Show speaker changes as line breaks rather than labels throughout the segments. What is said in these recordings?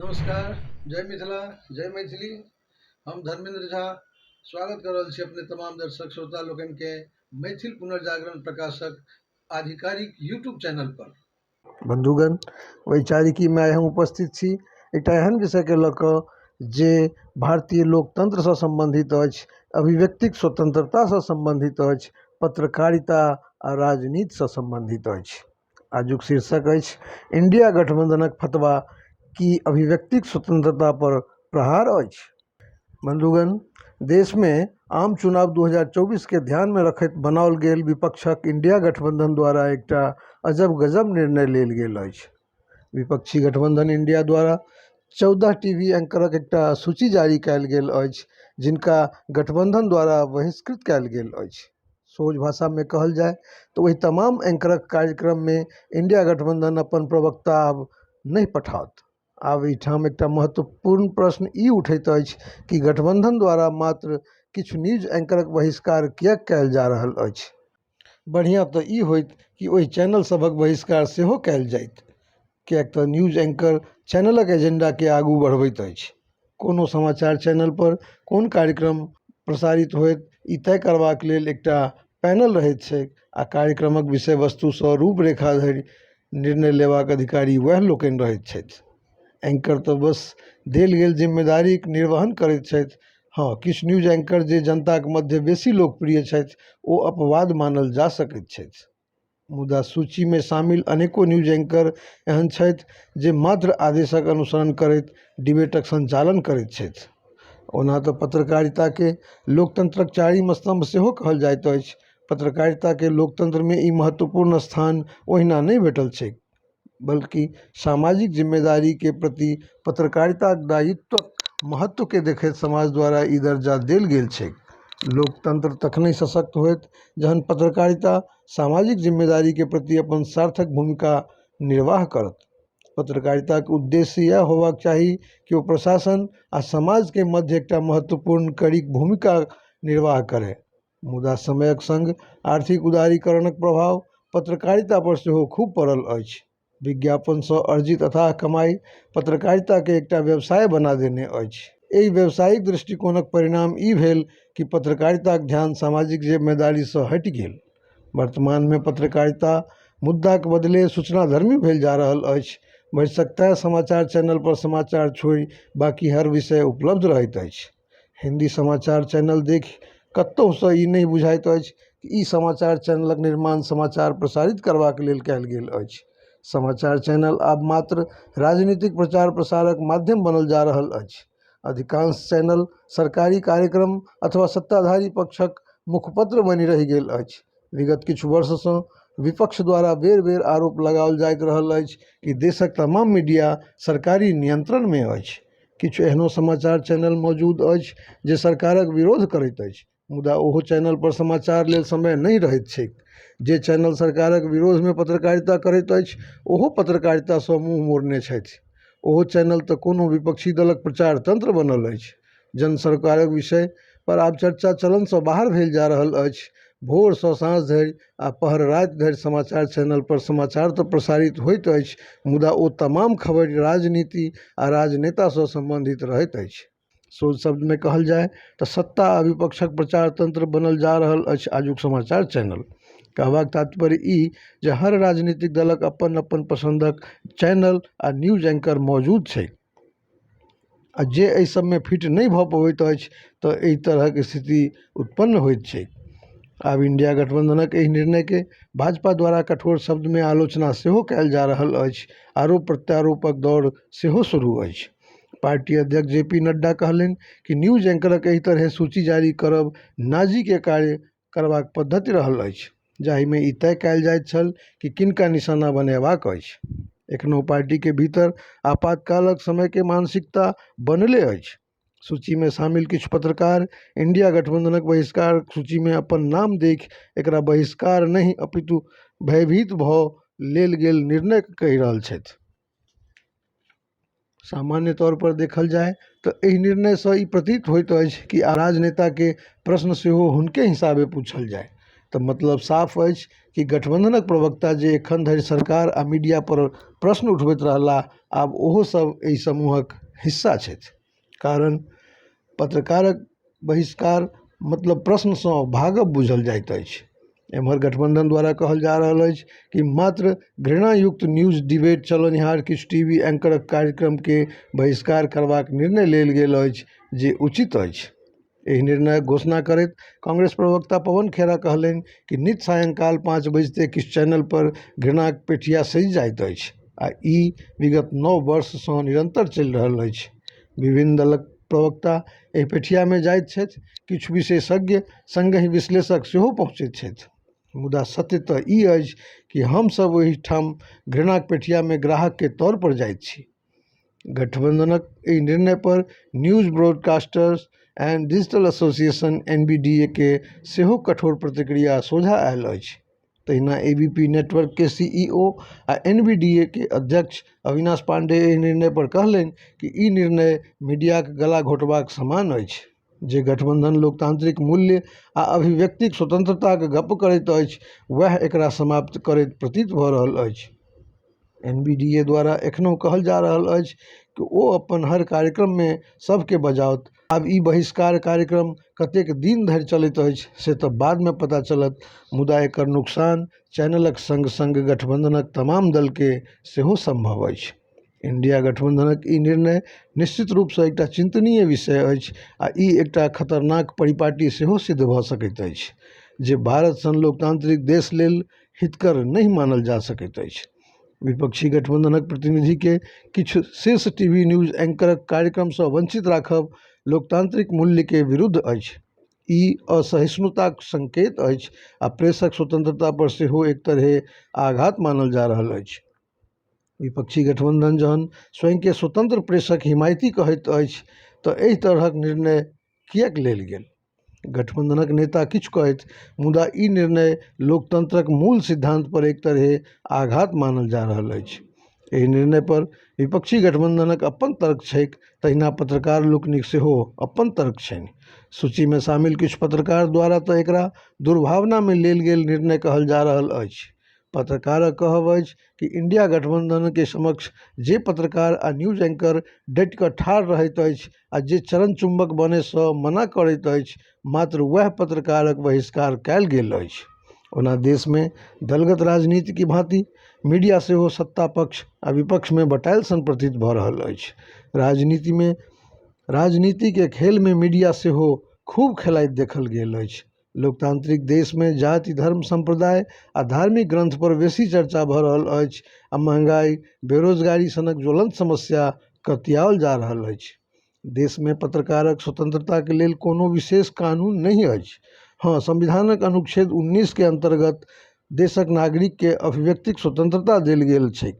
नमस्कार जय मिथिला जय मैथिली हम धर्मेंद्र झा स्वागत कर रहल छी अपने तमाम दर्शक श्रोता लोकन के मैथिल पुनर्जागरण प्रकाशक आधिकारिक यूट्यूब चैनल पर बंधुगण
वैचारिकी में आइ हम उपस्थित छी एकटा एहन विषय के लऽ कऽ जे भारतीय लोकतंत्र सँ सम्बन्धित अछि अभिव्यक्तिक स्वतंत्रता सँ सम्बन्धित अछि पत्रकारिता आ राजनीति सँ सम्बन्धित अछि आजुक शीर्षक अछि इंडिया गठबंधनक फतवा की अभिव्यक्तिक स्वतंत्रता पर प्रहार अछि? बंधुगण, देश मे आम चुनाव दू हजार चौबीस केँ ध्यान मे रखैत बनाओल गेल विपक्षक इंडिया गठबंधन द्वारा एकटा अजब-गजब निर्णय लेल गेल अछि। विपक्षी गठबंधन इंडिया द्वारा चौदह टीवी एंकरक एकटा सूची जारी कएल गेल अछि जिनका गठबंधन द्वारा बहिष्कृत कएल गेल अछि। सोझ भाषामे कहल जाय तऽ ओहि तमाम एंकरक कार्यक्रममे इंडिया गठबंधन अपन प्रवक्ता आब नहि पठाओत आब एहिठाम एकटा महत्वपूर्ण प्रश्न ई उठैत अछि कि गठबंधन द्वारा मात्र किछु न्यूज एंकरक बहिष्कार किएक कयल जा रहल अछि बढ़िआँ तऽ ई होइत कि ओहि चैनल सभक बहिष्कार सेहो कयल जाइत किएक तऽ न्यूज एन्कर चैनलके एजेन्डाके आगू बढ़बैत अछि कोनो समाचार चैनलपर कोन कार्यक्रम प्रसारित होइत ई तय करबाक लेल एकटा पैनल रहै छै आओर कार्यक्रमके विषय वस्तुसँ रूप रेखा धरि निर्णय लेबाक अधिकारी वएह लोकनि रहै छथि एन्कर तऽ बस देल गेल जिम्मेदारीके निर्वहन करै छथि हँ किछु न्यूज एन्कर जे जनताके मध्य बेसी लोकप्रिय छथि ओ अपवाद मानल जा सकै छथि मुदा सूचीमे शामिल अनेको न्यूज एंकर एहन छथि जे मात्र आदेशक अनुसरण करैत डिबेटक सञ्चालन करैत छथि ओना तऽ पत्रकारिताके लोकतन्त्रक चारिम स्तम्भ सेहो कहल जाइत अछि पत्रकारिताके लोकतन्त्रमे ई महत्वपूर्ण स्थान ओहिना नहि भेटल छैक बल्कि सामाजिक जिम्मेदारीके प्रति पत्रकारिता दायित्वके महत्वके देखैत समाज द्वारा ई दर्जा देल गेल छै लोकतन्त्र तखने सशक्त होयत जहन पत्रकारिता सामाजिक जिम्मेदारीके प्रति अपन सार्थक भूमिका निर्वाह करत पत्रकारिताके उद्देश्य इएह होयबाक चाही कि ओ प्रशासन आ समाजके मध्य एकटा महत्वपूर्ण कड़ी भूमिका निर्वाह करय मुदा समयक संग आर्थिक उदारीकरणक प्रभाव पत्रकारिता पर सेहो खूब पड़ल अछि। विज्ञापन सँ अर्जित अथाह कमाई पत्रकारिता केँ एकटा व्यवसाय बना देने अछि। एहि व्यावसायिक दृष्टिकोणक परिणाम ई भेल कि पत्रकारिताक ध्यान सामाजिक जिम्मेदारी सँ हटि गेल। वर्तमान मे पत्रकारिता मुद्दाक बदले सूचनाधर्मी भेल जा रहल अछि। भरिसक तैं समाचार चैनल पर समाचार छोड़ि बाकी हर विषय उपलब्ध रहैत अछि। हिन्दी समाचार चैनल देखि कतहुसँ ई नहि बुझाइत अछि ई समाचार चैनलक निर्माण समाचार प्रसारित करबाक लेल कयल गेल अछि समाचार चैनल आब मात्र राजनीतिक प्रचार प्रसारक माध्यम बनल जा रहल अछि अधिकांश चैनल सरकारी कार्यक्रम अथवा सत्ताधारी पक्षक मुखपत्र बनि रहि गेल अछि विगत किछु वर्षसँ विपक्ष द्वारा बेर बेर आरोप लगाओल जाइत रहल अछि कि देशक तमाम मीडिया सरकारी नियन्त्रणमे अछि किछु एहनो समाचार चैनल मौजूद अछि जे सरकारक विरोध करैत अछि मुदा ओहो चैनल पर समाचार लेल समय नहि रहैत छैक जे चैनल सरकारक विरोधमे पत्रकारिता करैत अछि ओहो पत्रकारितासँ मुँह मोड़ने छथि ओहो चैनल तऽ कोनो विपक्षी दलक प्रचार तंत्र बनल अछि जन सरकारक विषय पर आब चर्चा चलनसँ बाहर भेल जा रहल अछि भोरसँ साँझ धरि आओर पहर राति धरि समाचार चैनलपर समाचार तऽ प्रसारित होइत अछि मुदा ओ तमाम खबरि राजनीति आओर राजनेतासँ सम्बन्धित रहैत अछि सोझ शब्दमे कहल जाइ तऽ सत्ता आओर विपक्षक प्रचार तन्त्र बनल जा रहल अछि आजुक समाचार चैनल कहबाक तात्पर्य ई जे हर राजनीतिक दलक अपन अपन पसन्दक चैनल आओर न्यूज एंकर मौजूद छै आओर जे अइ सबमे फिट नहि भऽ पबैत अछि तऽ अइ तरहके स्थिति उत्पन्न होइत छै आब इण्डिया गठबन्धनक अइ निर्णयके भाजपा द्वारा कठोर शब्दमे आलोचना सेहो कयल जा रहल अछि आरोप प्रत्यारोपक दौर सेहो शुरू अछि पार्टी अध्यक्ष जे पी नड्डा कहलनि कि न्यूज एंकरक अइ तरहे सूची जारी करब नाजीके कार्य करबाक पद्धति रहल अछि जाहिमे ई तय कयल जाइत छल कि किनका निशाना बनेबाक अछि एखनो पार्टीके भीतर आपातकालक समयके मानसिकता बनले अछि सूचीमे शामिल किछु पत्रकार इण्डिया गठबन्धनक बहिष्कार सूचीमे अपन नाम देखि एकरा बहिष्कार नहि अपितु भयभीत भऽ लेल गेल निर्णय कहि रहल छथि सामान्य तौर पर देखल जाय त एहि निर्णय सँ ई प्रतीत होइत अछि कि आब राजनेता के प्रश्न सेहो हुनके हिसाबे पूछल जाय। त मतलब साफ अछि कि गठबंधनक प्रवक्ता जे एखन धरि सरकार आ मीडिया पर प्रश्न उठबैत रहलाह आब ओहो सभ एहि समूहक हिस्सा छथि। कारण पत्रकारक बहिष्कार मतलब प्रश्नसँ भागब बुझल जाइत अछि एमहर गठबन्धन द्वारा कहल जा रहल अछि कि मात्र घृणायुक्त न्यूज डिबेट चलनिहार किछु टी वी एंकरक कार्यक्रमके बहिष्कार करबाक निर्णय लेल गेल अछि जे उचित अछि एहि निर्णयक घोषणा करैत कांग्रेस प्रवक्ता पवन खेड़ा कहलनि कि नित सायंकाल पाँच बजिते किछु चैनल पर घृणाक पेठिया सजि जाइत अछि आ ई विगत नओ वर्ष सं निरंतर चलि रहल अछि। विभिन्न दलक प्रवक्ता एहि पेठिया मे जाइत छथि, किछु विशेषज्ञ, संगहि विश्लेषक सेहो पहुंचैत छथि। मुदा सत्य त ई अछि कि हम सभ ओहि ठाम घृणाक पेठिया मे ग्राहक के तौर पर जाइत छी। गठबन्धनक एहि निर्णयपर news broadcasters and digital association N B D A के सेहो कठोर प्रतिक्रिया सोझा आयल अछि तहिना ए बी पी नेटवर्कके सी ई ओ आ एन बी डी ए के अध्यक्ष अविनाश पाण्डेय एहि निर्णयपर कहलनि कि ई निर्णय मीडियाक गला घोँटबाक समान अछि जे गठबन्धन लोकतान्त्रिक मूल्य आओर अभिव्यक्तिक स्वतन्त्रताके गप्प करैत अछि वएह एकरा समाप्त करैत प्रतीत भऽ रहल अछि एन बी डी ए द्वारा एखनो कहल जा रहल अछि कि ओ अपन हर कार्यक्रममे सबके बजाओत आब ई बहिष्कार कार्यक्रम कतेक दिन धरि चलैत अछि से तऽ बादमे पता चलत मुदा एकर नोकसान चैनलक सङ्ग सङ्ग गठबन्धनक तमाम दलके सेहो सम्भव अछि इण्डिया गठबन्धनक ई निर्णय निश्चित रूपसँ एकटा चिन्तनीय विषय अछि आ ई एकटा खतरनाक परिपाटी सेहो सिद्ध भऽ सकैत अछि जे भारत सन लोकतान्त्रिक देश लेल हितकर नहि मानल जा सकैत अछि विपक्षी गठबन्धनक प्रतिनिधिके किछु शीर्ष टी वी न्यूज एंकरक कार्यक्रमसँ वञ्चित राखब लोकतान्त्रिक मूल्यके विरुद्ध अछि ई असहिष्णुताक सङ्केत अछि आ प्रेसक स्वतन्त्रता पर सेहो एक तरहे आघात मानल जा रहल अछि विपक्षी गठबन्धन जहन स्वयंके स्वतन्त्र प्रेसक हिमायती कहैत अछि तऽ एहि तरहक निर्णय किएक लेल गेल गठबन्धनक नेता किछु कहथि मुदा ई निर्णय लोकतन्त्रक मूल सिद्धान्तपर एक तरहे आघात मानल जा रहल अछि एहि निर्णयपर विपक्षी गठबन्धनक अपन तर्क छैक तहिना पत्रकार लोकनिक सेहो अपन तर्क छनि सूचीमे शामिल किछु पत्रकार द्वारा तऽ एकरा दुर्भावनामे लेल गेल निर्णय कहल जा रहल अछि पत्रकारक कहब अछि कि इण्डिया गठबन्धनके समक्ष जे पत्रकार आ न्यूज एंकर डटि कऽ ठाढ़ रहैत अछि आ जे चरण चुम्बक बनयसँ मना करैत अछि मात्र वएह पत्रकारक बहिष्कार कयल गेल अछि ओना देशमे दलगत राजनीतिके भाँति मीडिया सेहो सत्ता पक्ष आ विपक्षमे बँटायल सन प्रतीत भऽ रहल अछि राजनीतिमे राजनीतिके खेलमे मीडिया सेहो खूब खेलाइत देखल गेल अछि लोकतांत्रिक देशमे जाति धर्म सम्प्रदाय आ धार्मिक ग्रन्थ पर बेसी चर्चा भऽ रहल अछि आ महँगाइ बेरोजगारी सनक ज्वलन्त समस्या कतियाओल जा रहल अछि देशमे पत्रकारक स्वतंत्रताक लेल कोनो विशेष कानून नहि अछि हँ संविधानक अनुच्छेद उन्नीस के अन्तर्गत देशक नागरिक के अभिव्यक्तिक स्वतंत्रता देल गेल छै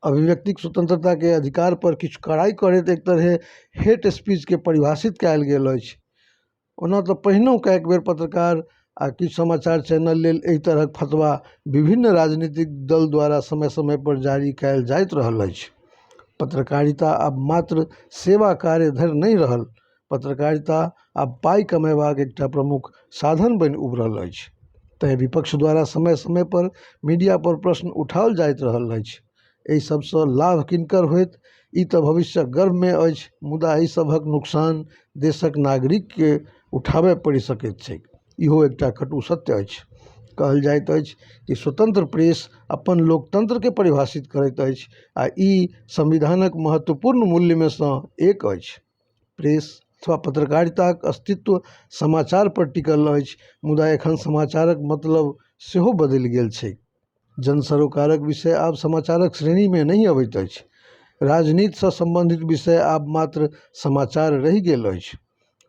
अभिव्यक्तिक स्वतंत्रता के अधिकार पर किछु कड़ाई करैत एक तरहे हेट स्पीच के परिभाषित कयल गेल अछि ओना तऽ पहिनहुँ कएक बेर पत्रकार आओर किछु समाचार चैनल लेल एहि तरहके फतबा विभिन्न राजनीतिक दल द्वारा समय समयपर जारी कएल जाइत रहल अछि पत्रकारिता आब मात्र सेवा कार्य धरि नहि रहल पत्रकारिता आब पाइ कमेबाक एकटा प्रमुख साधन बनि उभरल अछि तेँ विपक्ष द्वारा समय समयपर मीडियापर प्रश्न उठाओल जाइत रहल अछि एहि सबसँ लाभ किनकर होयत ई तऽ भविष्यक गर्भमे अछि मुदा एहि सबहक नुकसान देशक नागरिकके उठाबय पड़ि सकैत छैक इहो एकटा कटु सत्य अछि कहल जाइत अछि जे स्वतन्त्र प्रेस अपन लोकतन्त्रके परिभाषित करैत अछि आओर ई संविधानक महत्वपूर्ण मूल्यमे सँ एक अछि प्रेस अथवा पत्रकारिताक अस्तित्व समाचारपर टिकल अछि मुदा एखन समाचारक मतलब सेहो बदलि गेल छैक जन सरोकारक विषय आब समाचारक श्रेणीमे नहि अबैत अछि राजनीतिसँ सम्बन्धित विषय आब मात्र समाचार रहि गेल अछि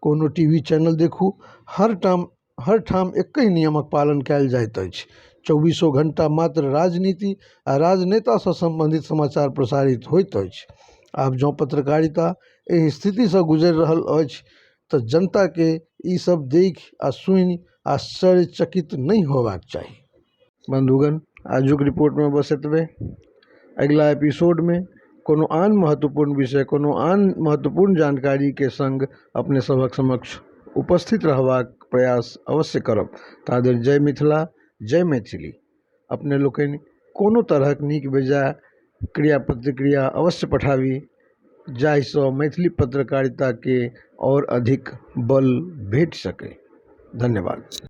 कोनो टी वी चैनल देखू हर टाम हर ठाम एके नियमक पालन कयल जाइत अछि चौबीसो घण्टा मात्र राजनीति आ राजनेतासँ सम्बन्धित समाचार प्रसारित होइत अछि आब जँ पत्रकारिता एहि स्थितिसँ गुजरि रहल अछि तऽ जनताके ई सब देखि आ सुनि आश्चर्यचकित नहि होयबाक चाही बन्धुगण आजुक रिपोर्टमे बस एतबे अगिला एपिसोडमे कोनो आन महत्वपूर्ण विषय कोनो आन महत्वपूर्ण जानकारीके सङ्ग अपने सभक समक्ष उपस्थित रहबाक प्रयास अवश्य करब ताधरि जय मिथिला जय मैथिली अपने लोकनि कोनो तरहक नीक बेजा क्रिया प्रतिक्रिया अवश्य पठाबी जाहिसँ मैथिली पत्रकारिताके आओर अधिक बल भेट सकै धन्यवाद